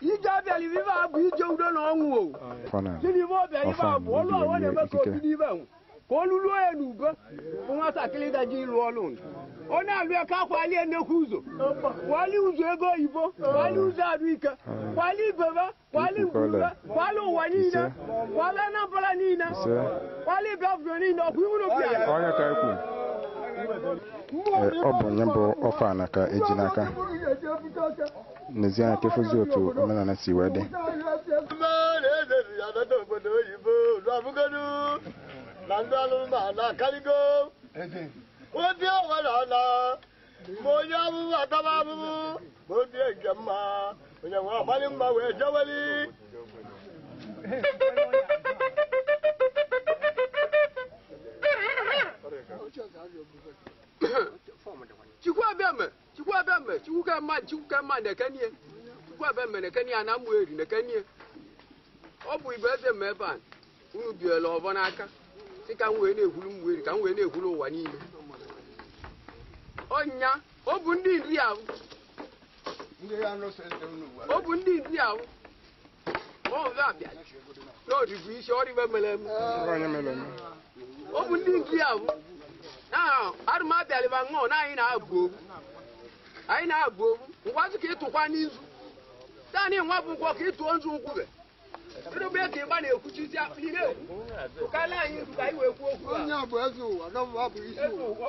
ije ọ bịalị ebe a bụ ije udo na ọṅụ o fana gịnị ive ọ bịa ebe a bụ ọlụ ọwa na-eme ka obi n'ibe nwụ ka olu ruo ya n'ugo bụ nwatakịrị ga-eji lụ ọlụ nụ. ọ na-alụ ya ka kwalie nnekwu ụzọ kwalie ụzọ ego oyibo kwalie ụzọ arụ ike kwalie ibebe kwalie ngwube kwalie ụwa niile kwalie Anambra niile Ise. kwalie Biafra niile ọkwa iwuru bịa ọ nya ka ekwu Ee, ọ bụ nye bụ ọfọ ana ka e ji n'aka n'ezie anya ka efozi otu omenala si wee dị na ndị anụmanụ akarịgo obi ọwara na ma onye abụbụ ataba abụbụ ma obi nke mma onye nwe ọgbalị mma wee jeweli Chukwu Abiame Chukwu ebe mme, Chukwu ke mma, Chukwu ke mma na-ekene i. Chukwu Abiame na-ekene i, ana Ụmụeri na-ekene i. Ọ bụ igwe eze mme ebe a, unu biela ọvọ n'aka, sị ka m wee na-ekwulu Ụmụeri, ka m wee na-ekwulu ụwa niile. Ọ nya, ọ bụ ndị Nri ahụ, Ndị ya nụsị eze unu gwara. ọ bụ ndị Nri ahụ, n'ọdịbụ isi ọrịbe mere eme ọ bụ ndị Nri ahụ na arụ m abịalịba ṅụọ na anyị na-agọ ọvọ anyị na-agọ ọvọ ngwazị ka ị tụkwa nzu taanị nwa bụ nkwọ ka ị tụọ nzu nkwube ịrụbe ka ịgba na-ekwuchizi akpụ ị na-ekwu ụkarịa anyị nzu ka anyị wee kwuo okwu a. Onye a bụ eze ụwa, na mụwa bụ isi ụwa.